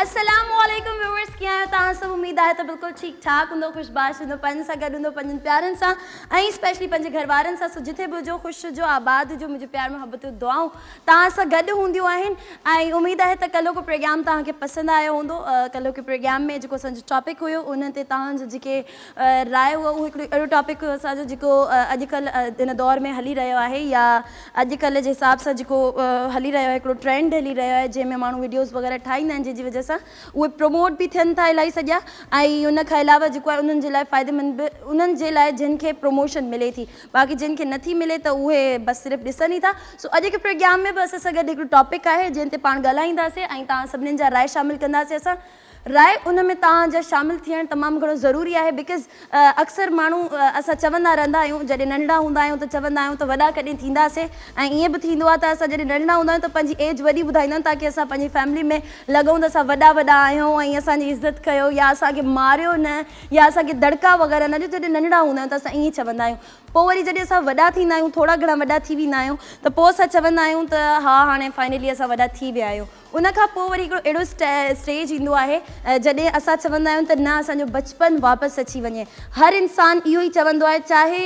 السلام عليڪم ويورس ڪيئن آهيو توهان سڀ اميد آهي ته بلڪل ٺيڪ ٺاڪ هوندو خوش باش هوندو پنهنجن سان گڏ هوندو پنهنجن پيارن سان ۽ اسپيشلي پنهنجي گهر وارن سان سو جتي به هجو خوش هجو آباد هجو منهنجي پيار محبتون دعائون توهان سان گڏ هونديون آهن ۽ اميد آهي ته ڪلهو ڪو پروگرام توهان کي پسند آيو هوندو ڪلهو ڪي پروگرام ۾ جيڪو اسان جو ٽاپڪ هيو ان تي توهان جا جيڪي راء هئي اهو هڪڙو اهڙو ٽاپڪ هئي اسان جو جيڪو اڄ ڪلهه ان دور ۾ هلي رهيو آهي يا اڄ ڪلهه جي حساب سان جيڪو هلي رهيو آهي هڪڙو ٽرينڊ هلي رهيو آهي جنهن ۾ ماڻهو ويڊيوز وغيره ٺاهيندا آهن جنهن جي وجهه سان اهي پروموٽ به ٿين ٿا الائي سڄا ۽ ان کان علاوه جيڪو آهي انهن جي لاء فائديمند به انهن جي لاء جن کي پروموشن ملي ٿي باقي جن کي نٿي ملي ته اهي بس صرف ڏسن ئي ٿا سو اڄ کي پروگيام ۾ به اسان سان گڏ هڪڙو ٽاپڪ آهي جنهن تي پاڻ ڳالهائينداسين ۽ توهان سڀني جا راء شامل ڪنداسين اسان راء ان ۾ توهان جا شامل ٿيڻ تمام گهڻو ضروري آهي بيڪاز اڪثر ماڻهو اسان چوندا رهندا آهيون جڏهن ننڍڙا هوندا آهيون ته چوندا آهيون ته وڏا ڪڏهن ٿينداسين ۽ ائين به ٿيندو آهي ته اسان جڏهن ننڍڙا هوندا آهيون ته پنهنجي ايج وڏي ٻڌائيندا آهيون تاڪه اسان پنهنجي فيملي ۾ لڳون ته اسان وڏا وڏا آهيون ۽ اسان جي عزت ڪيو يا اسان کي ماريو نه يا اسان کي دڙڪا وغيره نه ڏيو جڏهن ننڍڙا هوندا آهيون ته اسان ائين چوندا آهيون پوء وري جڏهن اسان وڏا ٿيندا آهيون ٿورا گهڻا وڏا ٿي ويندا آهيون ته پوء اسان چوندا آهيون ته ها هاڻي فائنلي اسان وڏا ٿي ويا آهيون ان کان پوء وري هڪڙو اهڙو اسٽيج ايندو آهي جڏهن اسان چوندا آهيون ته نه اسان جو بچپن واپس اچي وڃي. هر انسان اهو ئي چوندو آهي چاهي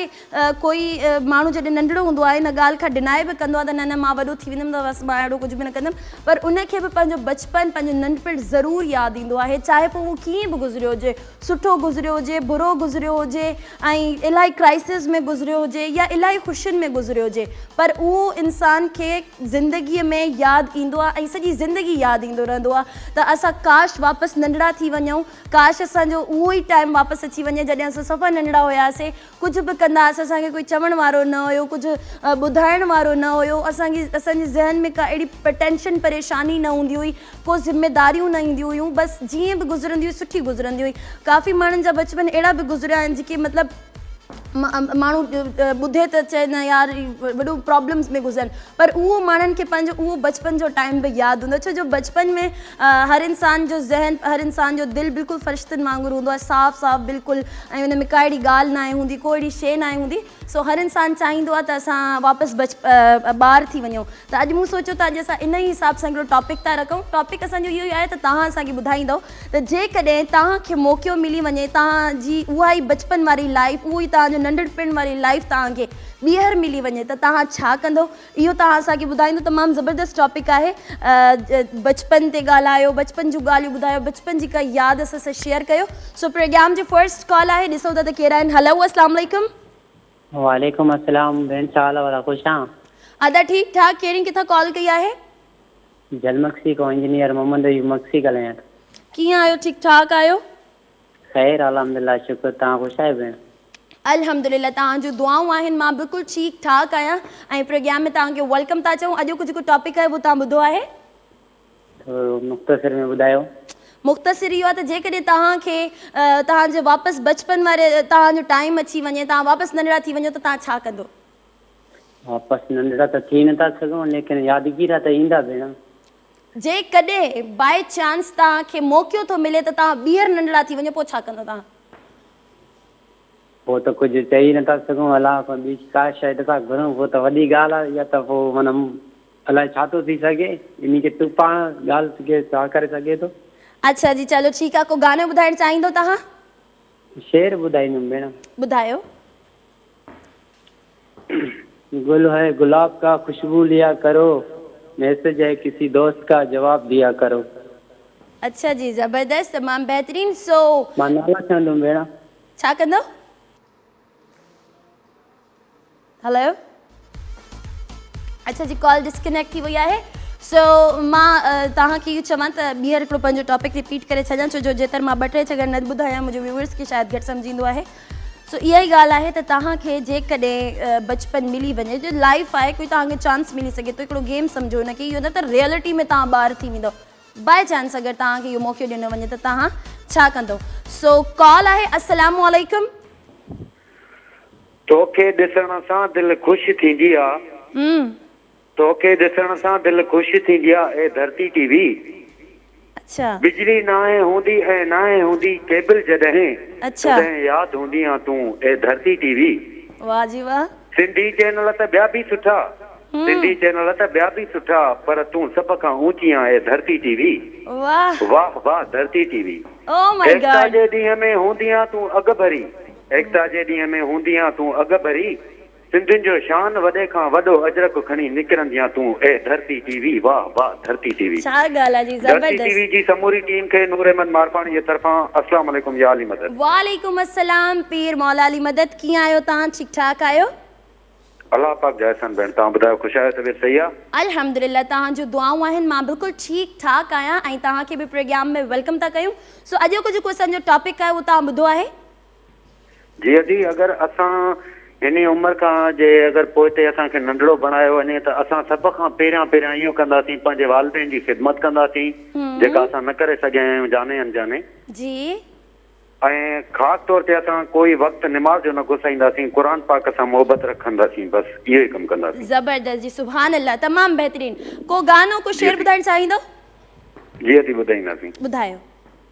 ڪوئي ماڻهو جڏهن ننڍڙو هوندو آهي ان ڳالهه کان ڊنائي به ڪندو آهي ته نه نه مان وڏو ٿي ويندم ته بس مان اهڙو ڪجهه به نه ڪندم پر ان کي به پنهنجو بچپن پنهنجو ننڍپڻ ضرور ياد ايندو آهي چاهي پوء اهو ڪيئن به گذريو هجي سٺو گذريو هجي، برو گذريو هجي ۽ الاهي ڪرائسز ۾ گذريو هجي يا الاهي خوشين ۾ گذريو هجي پر اهو انسان کي زندگي ۾ ياد ايندو آهي ۽ سڄي زندگي ياد ايندو رهندو آهي ته اسان ڪاش واپس ننڍڙا ٿي وڃون ڪاش اسان جو اهو ئي ٽائيم واپس اچي وڃي جڏهن اسان صفا ننڍڙا هياسين ڪجهه به ڪنداس اسان کي ڪوئي چوڻ وارو نه هيو ڪجهه ٻڌائڻ وارو نه هيو اسان کي اسان جي ذهن ۾ ڪا اهڙي ٽينشن پريشاني نه هوندي هئي ڪو ذميداريون نه اينديون هيون بس جيئن به گذرندي هئي سٺي گذرندي هئي ڪافي ماڻهن جا بچپن اهڙا به گذريا آهن جيڪي مطلب ماڻهو ٻڌي ته چئي نه يار وڏو پرابلمس ۾ گذرن پر اهو ماڻهن کي پنهنجو اهو بچپن جو ٽائيم به ياد هوندو ڇو جو بچپن ۾ هر انسان جو ذهن، هر انسان جو دل بلڪل فرشتن وانگر هوندو آهي، صاف صاف بلڪل ۽ ان ۾ ڪا اهڙي ڳالهه ناهي هوندي، ڪو اهڙي شيء ناهي هوندي، سو هر انسان چاهيندو آهي ته اسان واپس بچ ٻار ٿي وڃون، ته اڄ مون سوچيو ته اڄ اسان ان ئي حساب سان هڪڙو ٽاپڪ ٿا رکون، ٽاپڪ اسان جو اهو ئي آهي ته توهان اسان کي ٻڌائيندؤ ته جيڪڏهن توهان کي موقعو ملي وڃي توهان جي اها ئي بچپن واري لائيف، اهو ئي توهان جو ننڍڙپڻ واري لائيف توهان کي ٻيهر ملي وڃي ته توهان ڇا ڪندؤ؟ اهو توهان اسان کي ٻڌائيندو تمام زبردست ٽاپڪ آهي بچپن تي ڳالهايو بچپن جون ڳالهيون ٻڌايو بچپن جي ڪا ياد اسان سان شيئر ڪيو سو پروگرام جي فرسٽ ڪال آهي ڏسون ٿا ته ڪير آهن هلو اسلام عليڪم. وعليڪم السلام ڀيڻ ڇا حال ادا خوش آن. ادا ٺيڪ ٺاڪ ڪيرين ڪٿان ڪال ڪئي آهي. جلمڪسي کان انجنيئر محمد ايوب مڪسي ڳالهايان ٿو. ڪيئن آهيو ٺيڪ ٺاڪ آهيو. خير الحمدلله شڪر توهان خوش آهيو ڀيڻ. الحمدلله توهان جون دعائون آهن مان بلڪل ٺيڪ ٺاڪ آهيان ۽ پروگيام ۾ توهان کي ويلڪم ٿا چئون اڄوڪو جيڪو ٽاپڪ آهي اهو توهان ٻڌو آهي؟ ٿورو مختصر ۾ ٻڌايو. مختصر اهو آهي ته جيڪڏهن توهان کي توهان جي واپس بچپن واري توهان جو ٽائيم اچي وڃي توهان واپس ننڍڙا ٿي وڃو ته توهان ڇا ڪندو؟ واپس ننڍڙا ته ٿي نٿا سگهون ليڪن يادگيرا ته ايندا ڀيڻ. جيڪڏهن باء چانس توهان کي موقعو ٿو ملي ته توهان ٻيهر ننڍڙا ٿي وڃو پوء ڇا ڪندو توهان؟ پوء ته ڪجهه چئي ئي نٿا سگهون الله کان ٻي ڪا شيء نٿا گهرون پوء ته وڏي ڳالهه آهي اها ته پوء معنيٰ الائي ڇا ٿو ٿي سگهي انهي کي تون پاڻ ڳالهه کي ڇا ڪري سگهي ٿو. اڇا جي چلو ٺيڪ آهي ڪو گانو ٻڌائڻ چاهيندو توهان؟ شعر ٻڌائيندم ڀيڻ. ٻڌايو. گل هي گلاب ڪا خوشبو ليا ڪرو ميسج هي ڪسي دوست ڪا جواب ديا ڪرو. اڇا جي زبردست تمام بهترين سو. مان نالا چوندم ڀيڻ. ڇا ڪندو؟ هلو اڇا جي ڪال ڊسڪنيڪٽ ٿي وئي آهي سو مان توهان کي اهو چوان ته ٻيهر هڪڙو پنهنجو ٽاپڪ رپيٽ ڪري ڇڏيان ڇو جو جيتر مان ٻه ٽي چڪر نه ٻڌايان منهنجي ويوئرس کي شايد گهٽ سمجهه ايندو آهي. سو اها ئي ڳالهه آهي ته توهان کي جيڪڏهن بچپن ملي وڃي جو لائف آهي ڪوئي توهان کي چانس ملي سگهي ٿو هڪڙو گيم سمجهو ان کي اهو نه ته ريئلٽي ۾ توهان ٻار ٿي ويندو بائي چانس اگر توهان کي اهو موقعو ڏنو وڃي ته توهان ڇا ڪندو سو ڪال آهي السلام عليڪم توکي ڏسڻ سان دل خوش ٿيندي آ. توکي ڏسڻ سان دل خوش ٿيندي آ اي ڌرتي ٽي وي. اڇا. بجلي ناهي هوندي ۽ ناهي هوندي ڪيبل جڏهن اڇا. تڏهن ياد هوندي آ تون اي ڌرتي ٽي وي. واه جي واه. سنڌي چينل ته ٻيا به سٺا. سنڌي چينل ته ٻيا به سٺا پر تون سڀ کان اوچي آ اي ڌرتي ٽي وي. واه. واه واه Dharti T V. Oh my God. Ekta جي ڏينهن ۾ هوندي آ تون اڳڀري. ايڪتا جي ڏينهن ۾ هوندي آ تون اڳڀري. سنڌين جو شان وڏي کان وڏو اجرڪ کڻي نڪرنديان تون اي ڌرتي ٽي وي واه واه ڌرتي ٽي وي. ڇا ڳالهه آ جي ڌرتي ٽي زبردست. وي جي سموري ٽيم کي نور احمد مارپاڻي جي طرفان اسلام عليڪم يا علي مدد. وعليڪم السلام پير مولا علي مدد ڪيئن آهيو تان ٺيڪ ٺاڪ آهيو. الله پاڪ جا احسان ڀيڻ توهان ٻڌايو خوش آهيو طبيعت صحيح آ. الحمدلله تهان جون دعائون آهن مان بلڪل ٺيڪ ٺاڪ آهيان ۽ توهان کي به پريگيام ۾ ويلڪم ٿا ڪيون سو اڄوڪو جيڪو اسان جو ٽاپڪ آهي اهو توهان ٻڌو آهي. جي ادي اگر اسان هن عمر کان جي اگر پوئتي اسان کي ننڍڙو بڻايو وڃي ته اسان سڀ کان پهريان پهريان اهو ڪنداسين پنهنجي والدين جي خدمت ڪنداسين جيڪا اسان نه ڪري سگهيا آهيون جاني انجاني جي ۽ خاص طور تي اسان ڪوئي وقت نماز جو نه گسائينداسين قرآن پاڪ سان محبت رکنداسين بس اهو ئي ڪم ڪنداسين. زبردست جي سبحان الله تمام بهترين ڪو گانو ڪو جي شعر ادي ٻڌائڻ چاهيندو. جي ادي ٻڌائينداسين. ٻڌايو.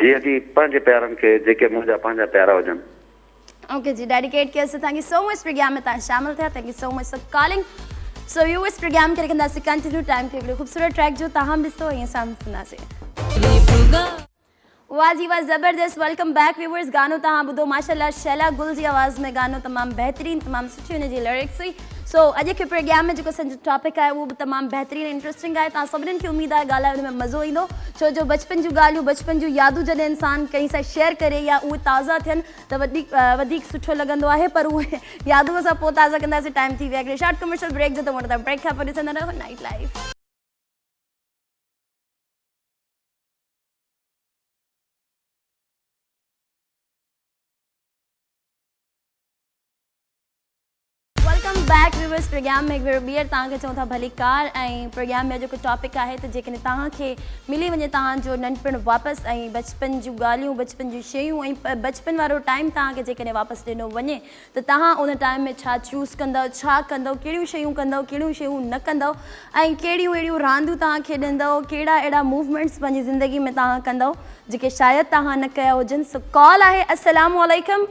جي اڳي پنهنجي پيارن کي جيڪي منهنجا پنهنجا پيارا هجن. اوڪي جي ڊيڊيڪيٽ ڪيو سو thank you so much programme ۾ تان شامل ٿيا thank you so much so calling so ويو اس پروگرام کي رکندا سي ڪنٽينيو ٽائم کي هڪڙي خوبصورت ٽريڪ جو تاهم به سو هي سام سنا سي. واھ جي واھ زبردست ويلڪم بيڪ ويورس گانو تهان ٻڌو ماشاء الله شيلا گل جي آواز ۾ گانو تمام بهترين تمام سٺي ان جي لرڪس هئي. سو اڄ کي پروگرام ۾ جيڪو اسانجو ٽاپڪ آهي اهو به تمام بهترين ۽ انٽرسٽنگ آهي توهان سڀني کي اميد آهي ڳالهائي ان ۾ مزو ايندو ڇو جو بچپن جون ڳالهيون بچپن جون يادون جڏهن انسان ڪنهن سان شيئر ڪري يا اهي تازا ٿين ته وڌيڪ وڌيڪ سٺو لڳندو آهي پر اهي يادون اسان پوء تازا ڪنداسين ٽائيم ٿي ويو آهي هڪڙي شارٽ ڪمرشل بريڪ جو ته مون تان بريڪ کان پوء ڏسندا رهو night life welcome back viewers programme ۾ هڪ ڀيرو ٻيهر توهان کي چون ٿا ڀلي ڪار ۽ پروگرام جو جيڪو ٽاپڪ آهي ته جيڪڏهن توهان کي ملي وڃي توهان جو ننڍپڻ واپس ۽ بچپن جون ڳالهيون بچپن جون شيون ۽ بچپن وارو ٽائيم توهان کي جيڪڏهن واپس ڏنو وڃي ته توهان ان ٽائيم ۾ ڇا چوز ڪندؤ ڇا ڪندؤ ڪهڙيون شيون ڪندؤ ڪهڙيون شيون نه ڪندؤ ۽ ڪهڙيون اهڙيون رانديون توهان کيڏندؤ ڪهڙا اهڙا موومينٽس پنهنجي زندگي ۾ توهان ڪندؤ جيڪي شايد توهان نه ڪيا هجن سو ڪال آهي السلام عليڪم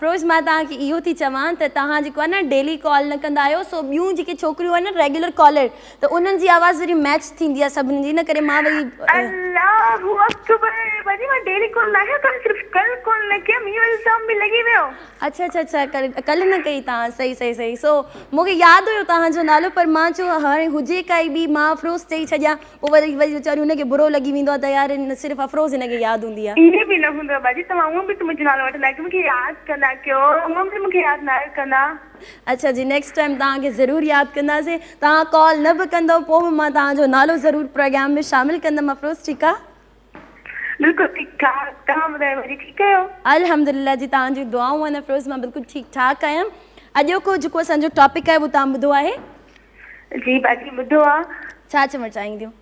فروز مان توهان کي اهو ٿي چوان ته توهان جيڪو آهي نه ڊيلي ڪال نه ڪندا آهيو سو ٻيون جيڪي ڇوڪريون آهن نه ريگيولر ڪالر ته انهن جي آواز وري ميچ ٿيندي آهي سڀني جي ان ڪري مان وري الله اڪبر بني مان ڊيلي ڪال نه ڪيا ڪم صرف ڪل ڪال نه ڪيم اهو الزام به لڳي ويو. اڇا اڇا اڇا ڪل ڪل نه ڪئي توهان صحيح صحيح صحيح سو مونکي ياد هيو توهان جو نالو پر مان چيو هاڻي هجي ڪائي ٻي مان فروز چئي ڇڏيان. پوء وري وري ويچاري هن کي برو لڳي ويندو آهي ته يار نه صرف افروز هن کي ياد هوندي آهي. ائين به نه هوندو باجي توهان هونئن به ته منهنجو نالو وٺندا آهيو ڪي مون کي ياد ڪندا ڪيو هونئن به مون کي ياد نه آهيو ڪندا. اڇا جي نيڪسٽ ٽائيم توهان کي ضرور ياد ڪنداسين توهان ڪال نه به ڪندؤ پوء به مان توهان جو نالو ضرور پروگرام ۾ شامل ڪندم افروز ٺيڪ آهي. بلڪل ٺيڪ ٺاڪ توهان ٻڌايو باجي ٺيڪ آهيو. الحمدلله جي توهان جون دعائون آهن افروز مان بلڪل ٺيڪ ٺاڪ آهيان اڄوڪو جيڪو اسان جو ٽاپڪ آهي اهو توهان ٻڌو آهي. جي باجي ٻڌو آ. ڇا چوڻ چاهين ٿيون؟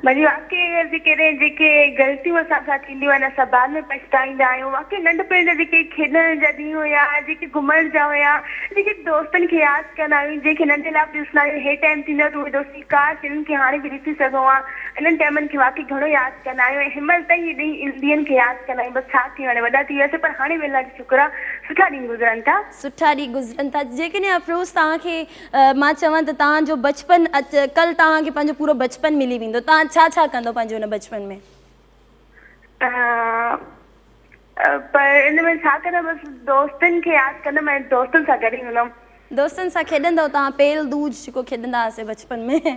باجي واقعي اهي جيڪي ري جيڪي غلطيون اسان سان ٿينديون آهن اسان بعد ۾ پڇتائيندا آهيون واقعي ننڍپڻ جا جيڪي کيڏڻ جا ڏينهن هيا جيڪي گهمڻ جا هيا جيڪي دوستن کي ياد ڪندا آهيون جنهن کي ننڍي لاء به ڏسندا آهيون هي ٽائيم ٿيندو آهي ته اهي دوستي ڪاش انهن کي هاڻي به ڏسي سگهون ها انهن ٽائيمن کي واقعي گهڻو ياد ڪندا آهيون ۽ هنمهل تائين اهي ڏينهن ڏينهن کي ياد ڪندا آهيون بس ڇا ڪيون هاڻي وڏا ٿي وياسي پر هاڻي به الله جو شڪر آهي سٺا ڏينهن گذرن ٿا. سٺا ڏينهن گذرن ٿا جيڪڏهن افروز توهان کي مان چوان ته توهان جو بچپن ڪل توهان کي پنهنجو پورو بچپن ملي ويندو توهان ڇا ڇا ڪندو پنهنجي ان بچپن ۾؟ پر ان ۾ ڇا ڪندم بس دوستن کي ياد ڪندم ۽ دوستن سان گڏ هوندم. دوستن سان کيڏندو توهان پيل دوج جيڪو کيڏندا هئاسي بچپن ۾.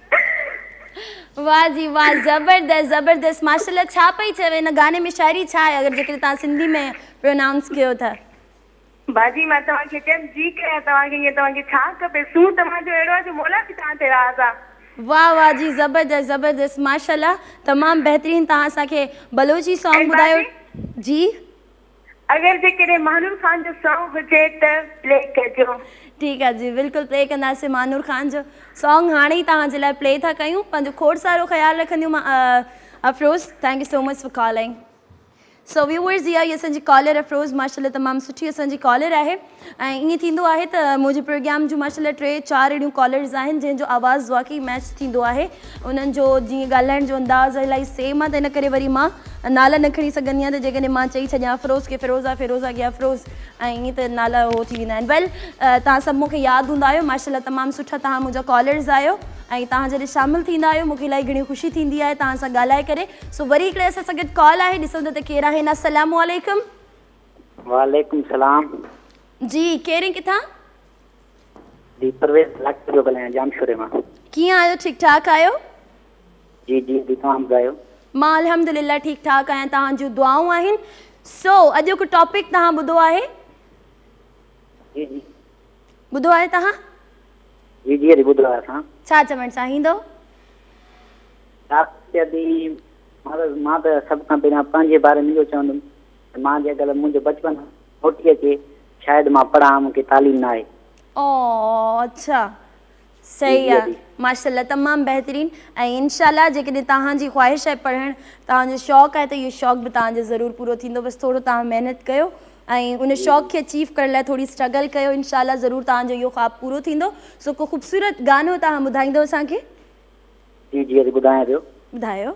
واھ جي واھ زبردست زبردست ماشاءالله ڇا پئي چئو ان گاني ۾ شاعري ڇا آهي اگر جيڪڏهن توهان سنڌي ۾ پرونائونس ڪيو ته. باجي مان توهان کي چيم جي ڪريان توهان کي ائين توهان کي ڇا کپي سور توهان جو اهڙو آهي جو مولا به توهان تي راض آ. واھ واھ جي زبردست زبردست ماشاءالله تمام بهترين توهان اسان کي بلوچي سانگ ٻڌايو جي. اگر جيڪڏهن مانور خان جو سانگ هجي ته پلي ڪجو. ٺيڪ آ جي بلڪل پلي ڪنداسين مانور خان جو سانگ هاڻي ئي توهان جي لاء پلي ٿا ڪيون پنهنجو کوڙ سارو خيال رکنديون مان Afroz thank you so much for calling so viewers هي آهي اسان جي ڪالر افروز ماشاء الله تمام سٺي اسان جي ڪالر آهي. ۽ ائين ٿيندو آهي ته منهنجي پروگرام جون ماشاءالله ٽي چار اهڙيون ڪالرز آهن جنهن جو آواز واقعي ميچ ٿيندو آهي انهن جو جيئن ڳالهائڻ جو انداز الائي سيم آهي ته ان ڪري وري مان نالا نه کڻي سگهندي آهيان ته جيڪڏهن مان چئي ڇڏيان افروز کي فيروزا فيروزا کي افروز ۽ ائين ته نالا اهو ٿي ويندا آهن ويل توهان سڀ مون کي ياد هوندا آهيو ماشاءالله تمام سٺا توهان منهنجا ڪالرز آهيو ۽ توهان جڏهن شامل ٿيندا آهيو مون کي الائي گهڻي خوشي ٿيندي آهي توهان سان ڳالهائي ڪري سو وري هڪڙي اسان سان گڏ ڪال آهي ڏسون ٿا ته ڪير آهن السلام عليڪم. وعليڪم السلام. جي ڪير ۽ ڪٿان؟ جي پرويز ڀلاڪي پيو ڳالهايان ڄامشوري مان. ڪيئن آهيو ٺيڪ ٺاڪ آهيو. جي جي جي توهان ٻڌايو. مان الحمد لله ٺيڪ ٺاڪ آهيان توهان جون دعائون آهن سو اڄوڪو ٽاپڪ توهان ٻڌو آهي. جي جي. ٻڌو آهي توهان. جي جي جي ٻڌو آهي اسان. ڇا چوڻ چاهيندو. ڊاڪٽر صاحب جي مان ته سڀ کان پهريان پنهنجي باري ۾ اهو چوندم. مان جي اگر منهنجو بچپن موٽي اچي شايد مان پڙهان مون کي تعليم نه آهي. اوء اڇا جي صحيح جي آ ادي. ماشاءالله تمام بهترين ۽ انشاء الله جيڪڏهن توهان جي خواهش آهي پڙهڻ توهان جو شوق آهي ته اهو شوق به توهان جو ضرور پورو ٿيندو بس ٿورو توهان محنت ڪيو ۽ ان جي شوق جي. کي اچيف ڪرڻ لاء ٿوري اسٽرگل ڪيو انشاء الله ضرور توهان جو اهو خواب پورو ٿيندو سو ڪو خوبصورت گانو توهان ٻڌائيندو اسان کي. جي جي ادي ٻڌايان پيو. ٻڌايو.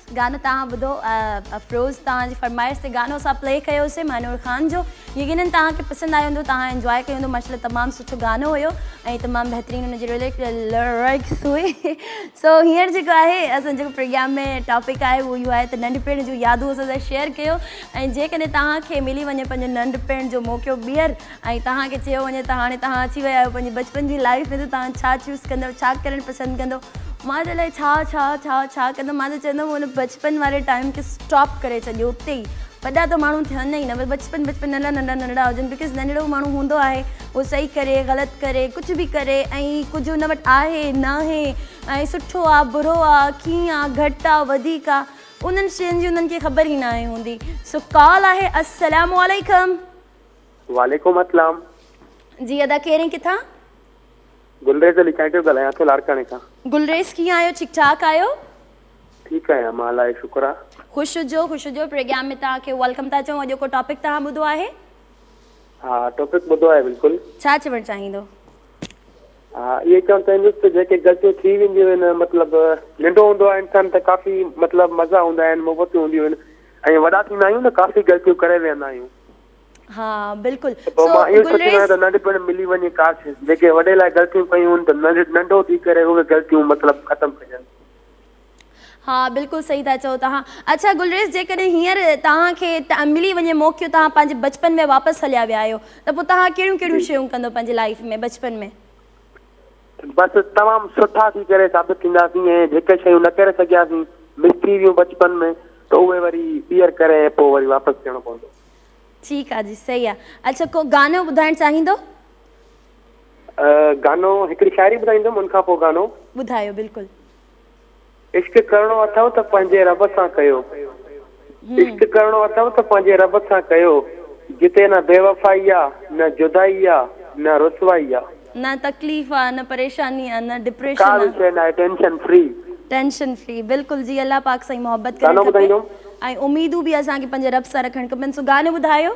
گانو توهان ٻڌو افروز توهان جي فرمائش تي گانو اسان پلي ڪيو سي مهنور خان جو يقينن توهان کي پسند آيو هوندو توهان انجواء ڪيو هوندو ماشاءالله تمام سٺو گانو هيو ۽ تمام بهترين ان جي لرڪس هئي سو هينئر جيڪو آهي اسان جيڪو پروگرام ۾ ٽاپڪ آهي اهو اهو آهي ته ننڍپڻ جون يادون اسان سان شيئر ڪيو ۽ جيڪڏهن توهان کي ملي وڃي پنهنجو ننڍپڻ جو موقعو ٻيهر ۽ توهان کي چيو وڃي ته هاڻي توهان اچي ويا آهيو پنهنجي بچپن جي لائيف ۾ ته توهان ڇا چوز ڪندو ڇا ڪرڻ پسند ڪندو مان چيو الائي ڇا ڇا ڇا ڇا ڪندم مان ته چوندم ان بچپن واري ٽائيم کي اسٽاپ ڪري ڇڏيو اتي ئي وڏا ته ماڻهو ٿين ئي نه بس بچپن بچپن ننڍا ننڍا ننڍڙا هجن بڪاز ننڍڙو ماڻهو هوندو آهي هو صحيح ڪري غلط ڪري ڪجهه به ڪري ۽ ڪجهه ان وٽ آهي ناهي ۽ سٺو آ برو آ ڪيئن آ گهٽ آ وڌيڪ آ انهن شين جي انهن کي خبر ئي ناهي هوندي سو ڪال آهي السلام عليڪم. وعليڪم اسلام. جي ادا ڪير ۽ ڪٿان. گلريز علي چانئٽيو ڳالهايان ٿو لاڙڪاڻي کان. گلريز ڪيئن آهيو ٺيڪ ٺاڪ آهيو. ٺيڪ آهيان مان الاهي شڪر آ. خوش هجو خوش هجو پريگيام ۾ توهان کي ويلڪم ٿا چئون اڄوڪو ٽاپڪ توهان ٻڌو آهي. ها ٽاپڪ ٻڌو آهي بلڪل. ڇا چوڻ چاهيندو. ها اهي چوڻ چاهيندس ته جيڪي غلطيون ٿي وينديون آهن مطلب ننڊو هوندو آهي انسان ته ڪافي مطلب مزا هوندا آهن محبتون هونديون آهن ۽ وڏا ٿيندا آهيون ته ڪافي غلطيون ڪري ويهندا آهيون. ها بلڪل ته پوء سو مان اهو سوچيندو آهيان گلريز ته ننڍپڻ ملي وڃي ڪاش جيڪي وڏي لاء غلطيون ڪيون هن ته ننڍ ننڍو ٿي ڪري اهي غلطيون مطلب ختم ڪجن. ها بلڪل صحيح ٿا چئو توهان اڇا گلريز جيڪڏهن هينئر توهان کي ملي وڃي موقعو توهان پنهنجي بچپن ۾ واپس هليا ويا آهيو ته پوء توهان ڪهڙيون ڪهڙيون جي شيون ڪندو پنهنجي لائيف ۾ بچپن ۾ بس تمام سٺا ٿي ڪري ثابت ٿينداسين ۽ جيڪي شيون نه ڪري سگهياسين مس ٿي ويون بچپن ۾ ته اهي وري ٻيهر ڪري ۽ پوء وري واپس ٿيڻو پوندو. ٺيڪ آ جي صحيح آ اڇا ڪو گانو ٻڌائڻ چاهيندو. گانو هڪڙي شاعري ٻڌائيندم ان کان پوء گانو. ٻڌايو بلڪل. عشق ڪرڻو اٿئو ته پنهنجي رب سان ڪيو عشق ڪرڻو اٿئو ته پنهنجي رب سان ڪيو جتي نه بيوفائي آ نه جدائي آ نه رسوائي آ. نه تڪليف آ نه پريشاني آ نه ڊپريشن آ. ڪا به شئي ناهي ٽينشن فري. ٽينشن فري بلڪل جي الله پاڪ سان ئي محبت ڪرڻ کپي ۽ اميدون به اسان کي پنهنجي رب سان رکڻ کپن سو گانو ٻڌايو.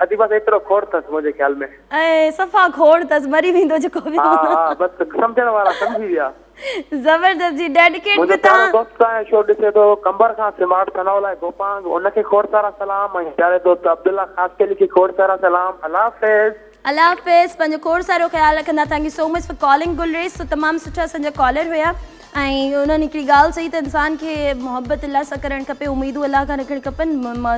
اڌي بس ايترو کوڙ ٿس منهنجي خيال ۾. اي صفا کوڙ ٿس مري ويندو جيڪو به. ها ها بس سمجهڻ وارا سمجهي ويا. زبردست جي ڊيڊڪيٽ به تهان. منهنجو پيارو دوست تهانجو شو ڏسي ٿو قمبر کان سمارٽ ٿنو لاء گوپانگ ان کي کوڙ سارا سلام ۽ پياري دوست عبدالله خاصخيلي کي کوڙ سارا سلام الله حافظ. الله حافظ پنهنجو کوڙ سارو خيال رکندا thank you so much for calling Gulrez سو تمام سٺا اسان جا ڪالر هيا ۽ انهن هڪڙي ڳالهه چئي ته انسان کي محبت الله سان ڪرڻ کپي، اميدون الله کان رکڻ کپن،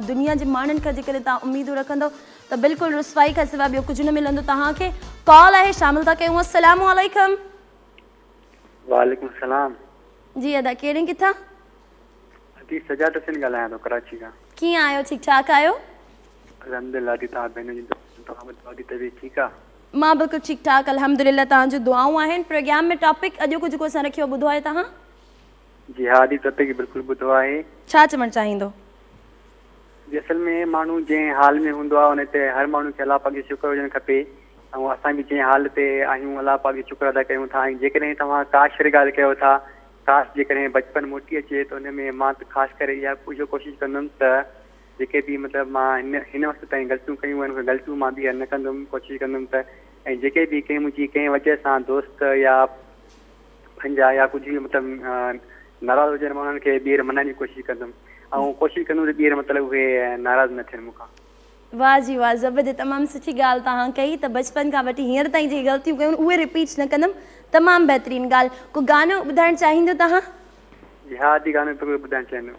دنيا جي ماڻهن کان جيڪڏهن توهان اميدون رکندؤ ته بلڪل رسوائي کان سواء ٻيو ڪجهه نه ملندو توهان کي. ڪال آهي شامل ٿا ڪيون السلام عليڪم. وعليڪم السلام. جي ادا ڪيرين ڪٿان. ادي سجاد حسين ڳالهايان ٿو ڪراچي کان. ڪيئن آهيو ٺيڪ ٺاڪ آهيو. الحمدلله ادي توهان ڀينر جي دعا توهان ٻڌايو ادي طبيعت ٺيڪ آ. مان بلڪل ٺيڪ ٺاڪ الحمدلله توهان جون دعائون آهن پروگرام ۾ ٽاپڪ اڄوڪو جيڪو اسان رکيو آهي ٻڌو آهي توهان؟ جي ها جي ٽاپڪ بلڪل ٻڌو آهي. ڇا چوڻ چاهيندو؟ جي اصل ۾ ماڻهو جنهن حال ۾ هوندو آهي ان تي هر ماڻهو کي الله پاڪ جي شڪر هجڻ کپي ۽ اسان به جنهن حال تي آهيون الله پاڪ جي شڪر ادا ڪيون ٿا ۽ جيڪڏهن توهان ڪاش واري ڳالهه ڪيو ٿا ڪاش جيڪڏهن بچپن موٽي اچي ته ان ۾ مان ته خاص ڪري اها اهو ڪوشش ڪندم ته جيڪي به مطلب مان هن هن وقت تائين غلطيون ڪيون آهن اهي غلطيون مان ٻيهر نه ڪندم ڪوشش ڪندم ته ۽ جيڪي به ڪنهن منهنجي ڪنهن وجه سان دوست يا پنهنجا يا ڪجهه به مطلب ناراض هجن مان انهن کي ٻيهر منائڻ جي ڪوشش ڪندم ۽ ڪوشش ڪندم ته ٻيهر مطلب اهي ناراض نه ٿين مون کان واھ جي واھ زبردست تمام سٺي ڳالھ توهان ڪئي ته بچپن کان وٺي هينئر تائين جيڪي غلطيون ڪيون اهي رپيٽ نه ڪندم تمام بهترين ڳالھ ڪو گانو ٻڌائڻ چاهيندو توهان؟ جهاد جي گانو پيو ٻڌائڻ چاهيندو.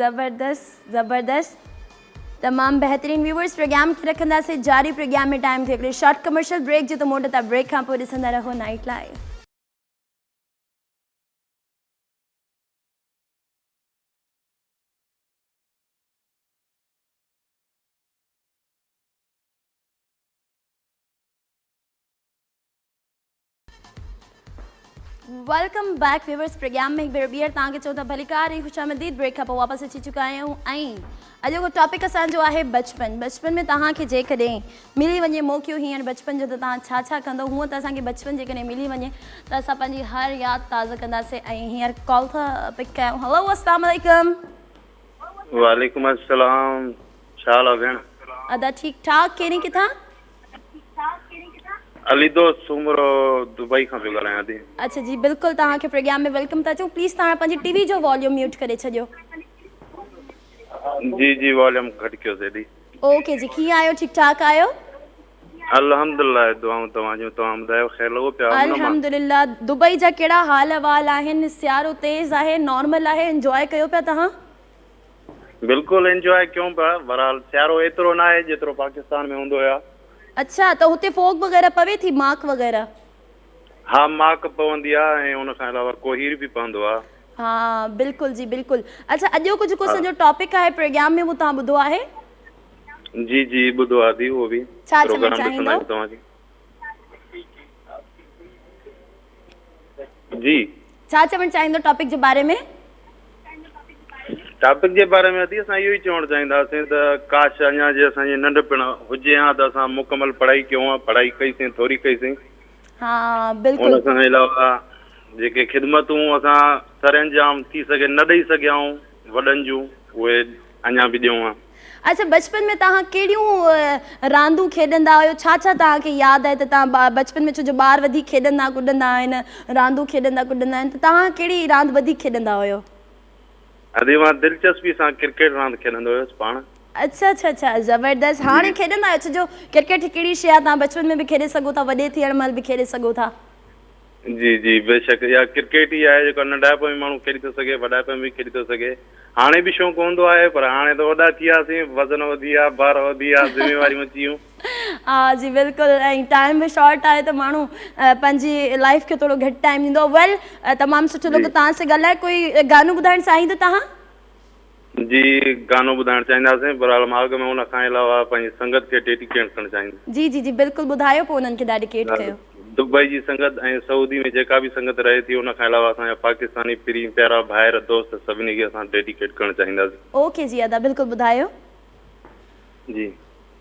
زبردست زبردست تمام بهترين ويورز پروگرام کي رکنداسي جاري پروگرام ۾ ٽائم ٿي هڪڙي شارٽ ڪمرشل بريڪ جو ته موٽ ته بريڪ کان پوء ڏسندا رهو night live welcome back viewers programme ۾ هڪ ڀيرو ٻيهر توهان کي چون ٿا ڀليڪار ۽ خوش آمديد بريڪ کان پوء واپس اچي چڪا آهيون ۽ اڄ جو ٽاپڪ اسان جو آهي بچپن بچپن ۾ توهان کي جيڪڏهن ملي وڃي موقعو هيئر بچپن جو ته توهان ڇا ڇا ڪندو هونء ته اسان کي بچپن جيڪڏهن ملي وڃي ته اسان پنهنجي هر ياد تازه ڪنداسين ۽ هيئر ڪال ٿا پڪ ڪيون هلو السلام عليڪم وعليڪم السلام ڇا حال آهي ڀيڻ ادا ٺيڪ ٺاڪ ڪهڙي ڪٿان علي دوست سومرو دبئي کان پيو ڳالهايان ٿي. اڇا جي بلڪل توهان کي پروگيام ۾ ويلڪم ٿا چئون پليز توهان پنهنجي ٽي وي جو واليوم ميوٽ ڪري ڇڏيو. جي جي واليوم گهٽ ڪيو سيدي. اوڪي جي ڪيئن آهيو ٺيڪ ٺاڪ آهيو. الحمدالله دعائون توهان جون توهان ٻڌايو خير لڳو پيا امن امان. الحمدالله دبئي جا ڪهڙا حال احوال آهن سيارو تيز آهي نارمل آهي انجواء ڪيو پيا توهان. بلڪل انجواء ڪيون پيا بھرحال سيارو ايترو ناھي جيترو پاڪستان ۾ ھوندو يا. اڇا ته اتي فوگ وغيره پوي ٿي ماڪ وغيره. ها ماڪ پوندي آ ۽ ان کان علاوه ڪوھير به پوندو آ. ها بلڪل جي بلڪل اڇا اڄ جو ڪجھ ڪو اسان جو ٽاپڪ آھي پروگيام ۾ اھو توھان ٻڌو آھي. جي جي ٻڌو آ دي اھو به پروگرام ڏسندا آھيون توھان جي. جي ڇا چوڻ چاهيندو ٽاپڪ جي باري ۾ ٽاپڪ جي باري ۾ ادي اسان اهو ئي چوڻ چاهينداسين ته ڪاش اڃا جي اسان جي ننڍپڻ هجي ها ته اسان مڪمل پڙهائي ڪيون ها پڙهائي ڪئيسين ٿوري ڪئيسين ها بلڪل ان کان علاوه جيڪي خدمتون اسان سر انجام ٿي سگهي نه ڏئي سگهيا آهيون وڏن جون اهي اڃا به ڏيون ها. اچا بچپن ۾ توهان ڪهڙيون راندون کيڏندا هيو ڇا ڇا توهان کي ياد آهي ته توهان بچپن ۾ ڇو جو ٻار وڌيڪ کيڏندا ڪڏندا آهن راندون کيڏندا ڪڏندا آهن ته توهان ڪهڙي راند وڌيڪ کيڏندا هيو. ادي مان دلچسپي سان ڪرڪيٽ راند کيڏندو هيس پاڻ. اچا اچا اچا زبردست هاڻي کيڏندا آهيو ڇو جو ڪرڪيٽ هڪ اهڙي شي آهي توهان بچپن ۾ به کيڏي سگهو ٿا وڏي ٿيڻ مهل به کيڏي سگهو ٿا. جي جي بيشڪ اها ڪرڪيٽ ئي آهي جيڪا ننڍائپ ۾ ماڻهو کيڏي ٿو سگهي وڏائپ ۾ به کيڏي ٿو سگهي هاڻي به شوق هوندو آهي پر هاڻي ته وڏا ٿي وياسين وزن وڌي ويا بار وڌي ويا ذميواريون اچي ويون ها جي بلڪل ۽ ٽائيم به شارٽ آهي ته ماڻهو پنهنجي لائيف کي ٿورو گهٽ ٽائيم ڏيندو ويل تمام سٺو لڳو توهان سان ڳالهائي ڪوئي گانو ٻڌائڻ چاهيندو توهان جي گانو ٻڌائڻ چاهينداسين برحال ماڳ ۾ ان کان علاوه پنهنجي سنگت کي ڊيڊي ڪيٽ ڪرڻ چاهينداسين. جي جي جي بلڪل ٻڌايو پوء انهن کي ڊاڊي ڪيٽ ڪيو. دبئي جي سنگت ۽ سعودي ۾ جيڪا به سنگت رهي ٿي ان کان علاوه اسان جا پاڪستاني پرين پيارا ڀائر دوست سڀني کي اسان ڊيڊي ڪيٽ ڪرڻ چاهينداسين. اوڪي جي ادا بلڪل ٻڌايو. جي.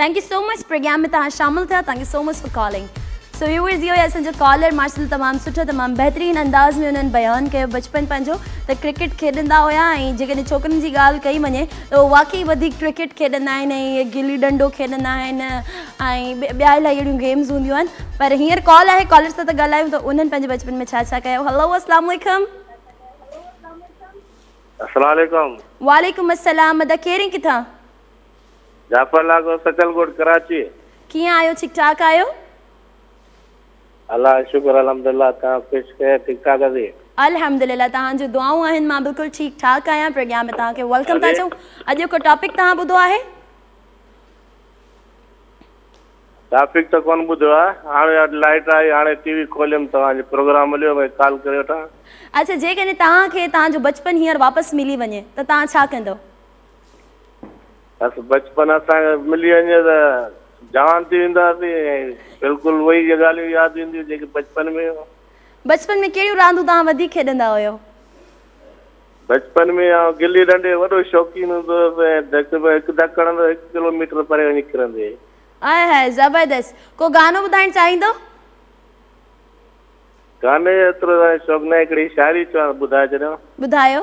Thank you so much programme ۾ توهان شامل ٿيا thank you so much for calling so viewers اهو هي اسان جو ڪالر ماشاء الله تمام سٺو تمام بهترين انداز ۾ انهن بيان ڪيو بچپن پنهنجو ته ڪرڪيٽ کيڏندا هيا ۽ جيڪڏهن ڇوڪرين جي ڳالهه ڪئي وڃي ته هو واقعي وڌيڪ ڪرڪيٽ کيڏندا آهن ۽ گلي ڏنڊو کيڏندا آهن ۽ ٻيا الاهي اهڙيون گيمز هونديون آهن پر هينئر ڪال آهي ڪالر سان ته ڳالهايون ته انهن پنهنجي بچپن ۾ ڇا ڇا ڪيو هلو اسلام عليکم السلام عليڪم وعليڪم السلام ادا ڪير ۽ ڪٿان جعفر لاکو سچل ڳوٺ ڪراچي. ڪيئن آهيو ٺيڪ ٺاڪ آهيو. الله جو شڪر الحمدالله تنهن خوش خير ٺيڪ ٺاڪ اسين. الحمدالله تهان جون دعائون آهن مان بلڪل ٺيڪ ٺاڪ آهيان پرگيان ۾ تهان کي ويلڪم ٿا چئون اڄ جو ڪو ٽاپڪ تهان ٻڌو آهي. ٽاپڪ ته ڪون ٻڌو آهي هاڻي اڄ لائٽ آئي هاڻي ٽي وي کوليم توهان جو پروگرام مليو ڀئي ڪال ڪري وٺان. اڇا جيڪڏهن تهان کي تهان جو بچپن هينئر واپس ملي وڃي ته تهان ڇا ڪندئو. بس بچپن اسان کي ملي وڃي ته جوان ٿي وينداسين ۽ بلڪل اهي ئي ڳالهيون ياد اينديون جيڪي بچپن ۾ هيون. بچپن ۾ ڪهڙيون راندون توهان وڌيڪ کيڏندا هيو؟ بچپن ۾ آئون گلي ڏنڊي جو وڏو شوقين هوندو هيس ۽ ڌڪ ۾ هڪ ڌڪ هڻندو هڪ ڪلو ميٽر پري وڃي ڪرندي. آء هاء زبردست. ڪو گانو ٻڌائڻ چاهيندو؟ گاني جو ايترو شوق ناهي هڪڙي شاعري چوان ته ٻڌائي ڇڏيان. ٻڌايو.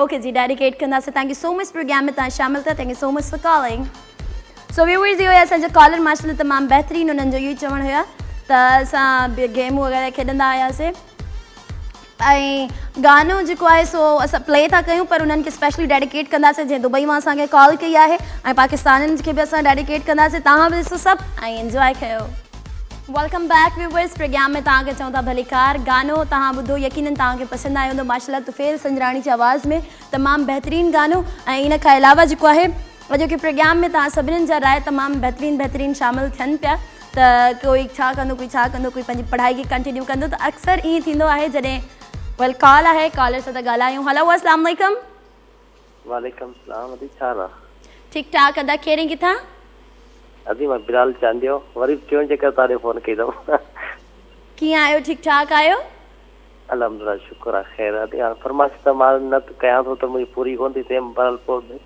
اوڪي جي ڊائريڪٽ ايڊ ڪنداسين thank you so much programme ۾ تان شامل ٿا thank you so much for calling so viewers هيو اسان جو ڪالر ماشاء الله تمام بهترين انهن جو اهو ئي چوڻ هيا ته اسان گيمون وغيرا کيڏندا هياسي ۽ گانو جيڪو آهي سو اسان پلي ٿا ڪيون پر انهن کي اسپيشلي ڊيڊيڪيٽ ڪنداسي جنهن دبئي مان اسان کي ڪال ڪئي آهي ۽ پاڪستانين کي به اسان ڊيڊيڪيٽ ڪنداسي تان به ڏسو سڀ ۽ انجوائي ڪيو ويلڪم بيڪ ويوورس پرگيام ۾ توهان کي چئون ٿا ڀليڪار گانو توهان ٻڌو يقينن توهان کي پسند آيو هوندو ماشاالله طفيل سنجراڻي جي آواز ۾ تمام بهترين گانو ۽ ان کان علاوه جيڪو آهي اڄوڪي پرگيام ۾ توهان سڀنن جا راء تمام بهترين بهترين شامل ٿين پيا ته ڪوئي ڇا ڪندو ڪوئي ڇا ڪندو ڪوئي پنهنجي پڙهائي کي ڪنٽينيو ڪندو ته اڪثر ائين ٿيندو آهي جڏهن ويل ڪال آهي ڪالر سان ته ڳالهايون هلو السلام عليڪم وعليڪم السلام ادي ڇا حال آ. ٺيڪ ٺاڪ ادا ڪھڙي ڪٿان. ادي مان بلال چانڊيو وري به ٽيون چڪر تان ڏي فون ڪئي اٿم. ڪيئن آھيو ٺيڪ ٺاڪ آھيو. الحمدلله شڪر آ خير ادي ھاڻ فرمائش ته مان نه ڪيان ٿو ته منھنجي پوري ڪون ٿي ٿئي بھرحال پوء به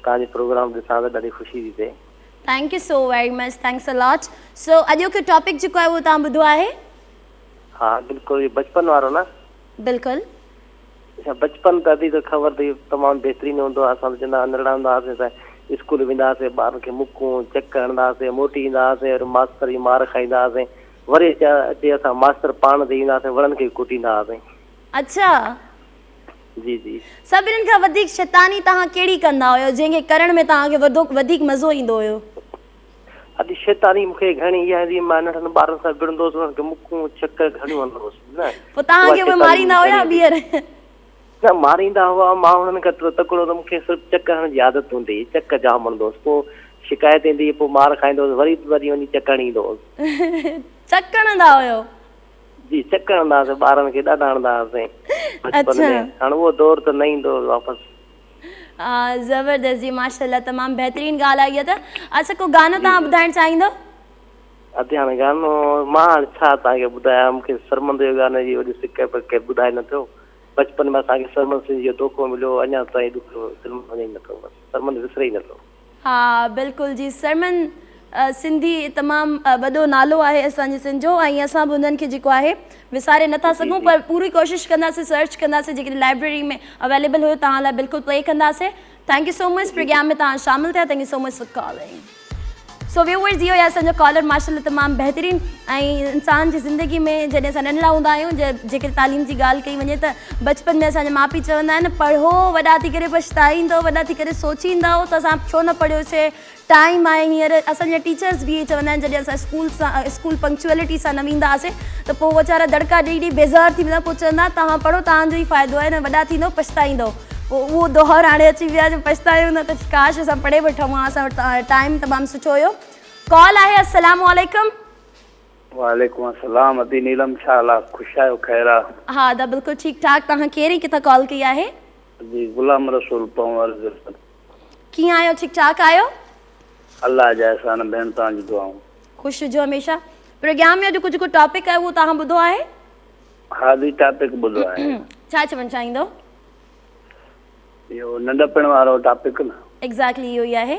توھان جو پروگرام ڏسان ته ڏاڍي خوشي ٿي ٿئي. Thank you so very much thanks a lot so اڄوڪي ٽاپڪ جيڪو آھي اھو توھان ٻڌو آھي. ھا بلڪل اھو بچپن وارو نه. بلڪل. اچا بچپن ته ادي ته خبر تئي تمام بهترين هوندو هو اسان ته چوندا هئا ننڍڙا هوندا هئاسين ته اسڪول ويندا هئاسين ٻارن کي مڪون چڪ هڻدا هئاسين موٽي ايندا هئاسين وري ماستر جي مار کائيندا هئاسين وري اچا اچي اسان ماستر پاڻ تي ايندا هئاسين وڻن کي ڪٽيندا هئاسين. اچا جي جي. سڀنن کان وڌيڪ شيطاني توهان ڪهڙي ڪندا هيو جنهن کي ڪرڻ ۾ توهان کي وڌيڪ مزو ايندو هيو. اڄ شيطاني مون کي گهڻي اها هوندي هئي مان ننڍن ٻارن سان وڙهندو هوس انهن کي مڪون ڇڪ گهڻيون هڻندو هوس نه پوء توهان کي اهي ماريندا هيا ٻيهر؟ نه ماريندا هئا مان هنن کان ايترو تڪڙو هوندو هوس مون کي صرف چڪ هڻڻ جي عادت هوندي هئي چڪ جام هڻندو هوس پوء شڪايت ايندي هئي پوء مار کائيندو هوس وري وري وڃي چڪ هڻي ايندو هوس. چڪ هڻندا هيو؟ جي چڪ هڻندا هئاسين ٻارن کي ڏاڍا هڻندا هئاسين بچپن ۾ هاڻ اهو دور ته نه ايندو واپس. زبردست جي ماشاءالله تمام بهترين ڳالهه آهي اها ته اچا ڪو گانو توهان ٻڌائڻ چاهيندو. ادي هاڻي گانو مان هاڻي ڇا توهان کي ٻڌايان مون کي سرمد جو گانو جي وڏي سڪ پر ڪير ٻڌائي نه ٿيو بچپن ۾ اسان کي سرمد سنڌ جو دوکو مليو اڃا تائين ڏکيو دل مان وڃي نه ٿو بس سرمد وسري ئي نه ٿو. ها بلڪل جي سرمن سنڌي تمام وڏو نالو آهي اسان جي سنڌ جو ۽ اسان به انهن کي جيڪو آهي وساري نٿا سگهون پر پوري ڪوشش ڪنداسين سرچ ڪنداسين جيڪڏهن لائبريري ۾ اويليبل هيو توهان لاء بلڪل پلي ڪنداسين thank you so much programme ۾ توهان شامل ٿيا thank you so much for calling so viewers اهو آهي اسان جو ڪالر ماشاء الله تمام بهترين ۽ انسان جي زندگي ۾ جڏهن اسان ننڍڙا هوندا آهيون جيڪڏهن تعليم جي ڳالهه ڪئي وڃي ته بچپن ۾ اسان جا ماء پيء چوندا آهن پڙهو وڏا ٿي ڪري پڇتائيندؤ وڏا ٿي ڪري سوچيندؤ ته اسان ڇو نه پڙهيوسي ٽائيم آهي هينئر اسان جا ٽيچرس به اهي چوندا آهن جڏهن اسان اسڪول سان اسڪول پنڪچوئلٽي سان نه ويندا هئاسي ته پوء ويچارا دڙڪا ڏئي ڏئي بيزار ٿي ويندا پوء چوندا توهان پڙهو توهان جو ئي فائدو آهي نه وڏا ٿيندؤ پڇتائيندؤ پوء اهو دؤر هاڻي اچي ويو آهي جو پڇتايون نه ته ڪاش اسان پڙهي وٺون ها اسان وٽ ٽائيم تمام سٺو هيو ڪال آهي السلام عليڪم وعليڪم السلام ادي نيلم ڇا حال آ خوش آهيو خير آ. ها ادا بلڪل ٺيڪ ٺاڪ توهان ڪير ۽ ڪٿان ڪال ڪئي آهي. جي غلام رسول پنهور جسد. ڪيئن آهيو ٺيڪ ٺاڪ آهيو. الله جا احسان ڀيڻ توهان جون دعائون. خوش هجو هميشه پروگرام ۾ اڄ ڪجهه ڪو ٽاپڪ آهي اهو توهان ٻڌو آهي. ها دي ٽاپڪ ٻڌو آهي. ڇا چوڻ چاهيندو. اهو ننڊپڻ وارو ٽاپڪ نه. ايگزيڪٽلي اهو ئي آهي.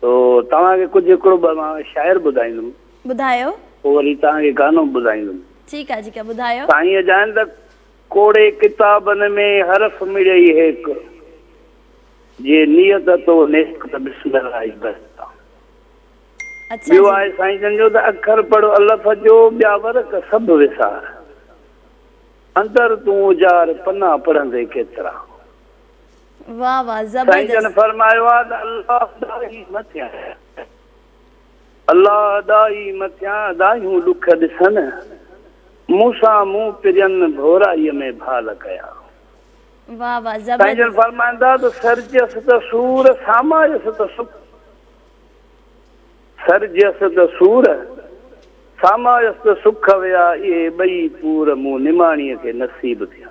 سو توهان کي ڪجهه هڪڙو ٻه مان شاعر ٻڌائيندم. ٻڌايو. پوء وري توهان کي گانو به ٻڌائيندم. ٺيڪ آهي ٺيڪ آهي ٻڌايو. سائينء جائن ته ڪوڙي ڪتابن ۾ حرف مڙئي هيڪ، جي نيت تو نيڪ ته بسم الله ئي بس آ. اڇا جي. ٻيو آهي سائين جن جو ته اکر پڙهه الف جو ٻيا ورق سڀ وسار، اندر تون اجار پنا پڙهندي ڪيترا. واه واه سائين جن زبردست. فرمايو آ ته الله ادا ئي مٿيان الله ادا ئي مٿيان ادايون ڏک ڏسن مون سان مون پرين ڀورائي ۾ ڀال ڪيا واه واه سائين جن زبردست. فرمائن ٿا ته سر جيس ته سور سامائيس ته سک سر جيس ته سور سامائيس ته سک ويا اهي ٻئي پور مون نماڻيء کي نصيب ٿيا.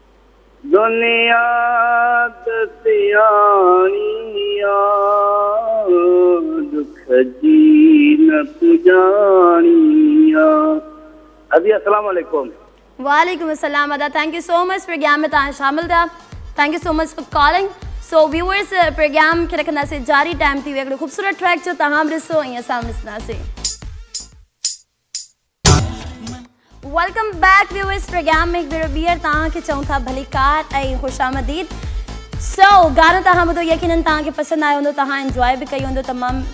دنيا ته سياڻي آ، ڏک جي نه پڄاڻي آ. ادي السلام عليڪم. وعليڪم السلام ادا thank you so much programme ۾ توهان شامل ٿيا thank you so much for calling so viewers programme کي رکنداسين جاري ٽائم ٿي ويو هڪڙو خوبصورت ٽريڪ جو توهان به ڏسو ۽ اسان به ڏسنداسين. ويلڪم بيڪ ويورز پروگرام ۾ هڪ ڀيرو ٻيهر توهان کي چئون ٿا ڀليڪار ۽ خوش آمديد سو گانو توهان ٻڌو يقينن توهان کي پسند آيو هوندو توهان انجوائي به ڪئي هوندو تمام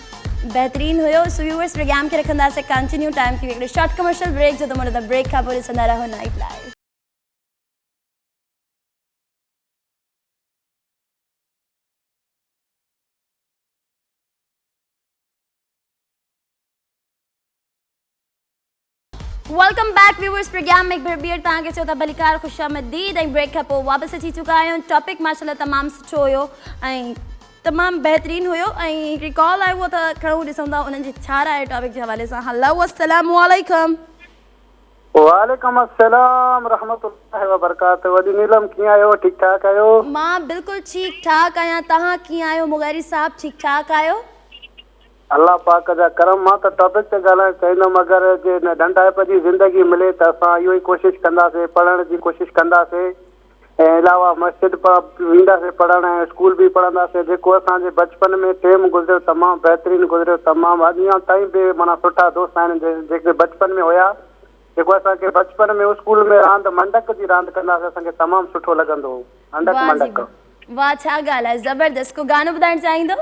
بهترين هيو سو ويورز پروگرام کي رکنداسي ڪنٽينيو ٽائم ٿي ويو شارٽ ڪمرشل بريڪ جو ته مڙ ته بريڪ کان پوء ڏسندا رهو night live welcome back viewers programme ۾ هڪ ڀير ٻيهر توهان کي چئو ته ڀليڪار خوش آمديد ۽ بريڪ کان پوء واپس اچي چڪا آهيون ٽاپڪ ماشاءالله تمام سٺو هيو ۽ تمام بهترين هيو ۽ هڪڙي ڪال آيو هو ته کڻو ڏسون ٿا انهن جي ڇا راء ٽاپڪ جي حوالي سان هلو السلام عليڪم وعليڪم السلام رحمت الله وبرڪاته وڏي نيلم ڪيئن آهيو ٺيڪ ٺاڪ آهيو مان بالڪل ٺيڪ ٺاڪ آهيان توهان ڪيئن آهيو مغيري صاحب ٺيڪ ٺاڪ آهيو الله پاڪ جا ڪرم مان ته ٽاپڪ تي ڳالهائڻ چاهيندم اگر جي هن ڏنڊائپ جي زندگي ملي ته اسان اهو ئي ڪوشش ڪنداسين پڙهڻ جي ڪوشش ڪنداسين ۽ علاوه مسجد به وينداسين پڙهڻ ۽ اسڪول به پڙهنداسين جيڪو اسان جي بچپن ۾ ٽيم گذريو تمام بهترين گذريو تمام اڄ اڃان تائين به معنيٰ سٺا دوست آهن جيڪي بچپن ۾ هيا جيڪو اسان کي بچپن ۾ اسڪول ۾ راند منڊڪ جي راند ڪنداسين اسان کي تمام سٺو لڳندو هو هنڊڪ منڊڪ. واھ جي واھ واھ ڇا ڳالھ آھي زبردست ڪو گانو ٻڌائڻ چاھيندو.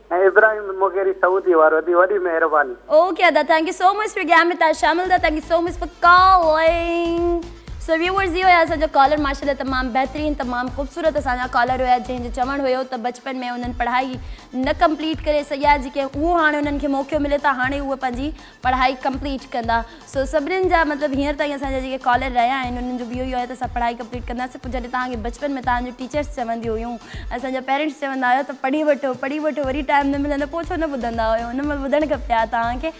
۽ ابراهيم مغيري سعودي وارو ادي وڏي مهرباني. اوڪي ادا thank you so much for game ۾ تان شامل ٿا thank you so much for calling so viewers هي هيا اسان جو ڪالر ماشاءالله تمام بهترين تمام خوبصورت اسان جا ڪالر هيا جنهن جو چوڻ هيو ته بچپن ۾ انهن پڙهائي نه ڪمپليٽ ڪري سگهيا جيڪي اهو هاڻي انهن کي موقعو ملي ٿا هاڻي اهي پنهنجي پڙهائي ڪمپليٽ ڪندا سو سڀنن جا مطلب هينئر تائين اسان جا جيڪي ڪالر رهيا آهن انهن جو به اهو ئي آهي ته اسان پڙهائي ڪمپليٽ ڪنداسين پوء جڏهن توهان کي بچپن ۾ توهان جون ٽيچرس چونديون هيون اسان جا پيرنٽس چوندا هيا ته پڙهي وٺو پڙهي وٺو وري ٽائيم نه ملندو پوء ڇو نه ٻڌندا هيو ان مهل ٻڌڻ کپي ها توهان کي